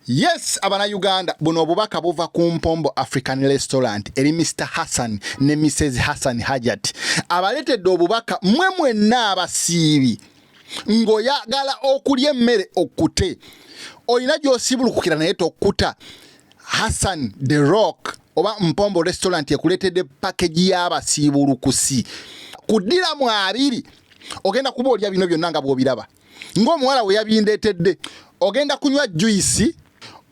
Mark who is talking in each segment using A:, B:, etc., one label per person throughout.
A: Yes abana Uganda buno obubaka buva ku Mpombo African Restaurant eri Mr Hassan ne Mrs Hassan Hajat abaletedde obubaka mwe mwenna abasiibi ng'oyagala okulya emmere okute olina gy'osibulukukira naye tokuta Hassan the Rock oba Mpombo Restaurant ekuleetedde pakeji y'abasiibulukusi kuddiramu abiri ogenda kuba olya bino byonna nga bw'obiraba ng'omuwala we yabindeetedde ogenda kunywa juyisi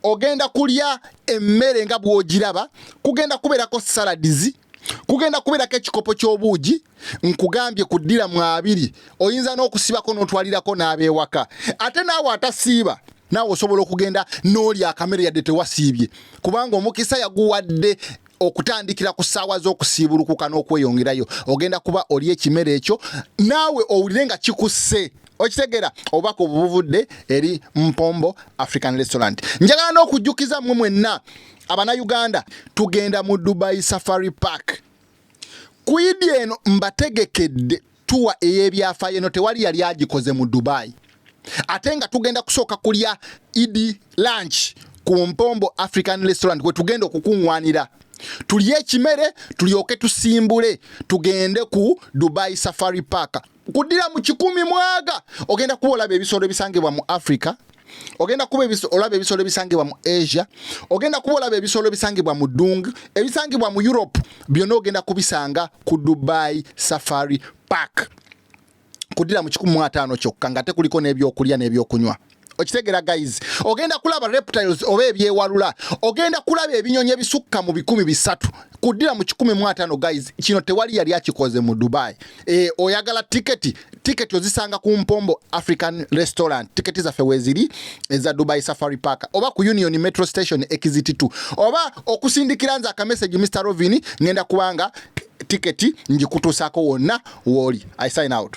A: ogenda kulya emmere nga bw'ogiraba kugenda kubeerako saladizi kugenda kubeerako ekikopo ky'obuugi nkugambye ku ddira mu abiri oyinza n'okusibako n'otwalirako n'abeewaka ate naawe atasiiba naawe osobola okugenda n'oli akamere yadde tewasiibye kubanga omukisa yaguwadde okutandikira ku ssaawa z'okusiibulukuka n'okweyongerayo ogenda kuba oli ekimere ekyo naawe owulire nga kikusse okitegera oba ku bubuvudde eri mpombo african restaurant njagala n'okujjukiza mmwe mwenna abanayuganda tugenda mu dubai safari park kwidi eno mbategekedde tuwa ey'ebyafaayo eno tewali yali agikoze mu dubai ate nga tugenda kusooka kulya idi lunch ku mpombo african restaurant kwe tugenda okukuŋwanira tulye ekimere tulyoke tusimbule tugende ku dubai safari park kuddira mu kikumi mwaga ogenda kuba olaba ebisolo ebisangibwa mu africa ogenda kuba olaba ebisolo ebisangibwa mu asia ogenda kuba olaba ebisolo ebisangibwa mu dung ebisangibwa mu europe byonna ogenda kubisanga ku dubai safari park kudira mu 15 kyokka nga tekuliko n'ebyokulya n'ebyokunywa okitegera guys ogenda kulaba reptiles oba ebyewalula ogenda kulaba ebinyonyi ebisukka mu bikumi bisatu kudira mu kikumi mu atano guys kino tewali yali akikoze mu dubai E, oyagala tiketi tiketi ozisanga ku mpombo african restaurant tiketi zaffe weziri eza dubai safari park oba ku union metro station exit 2 oba okusindikira nze akamessage mr rovin ngenda kubanga tiketi njikutuusako wonna wooli i sign out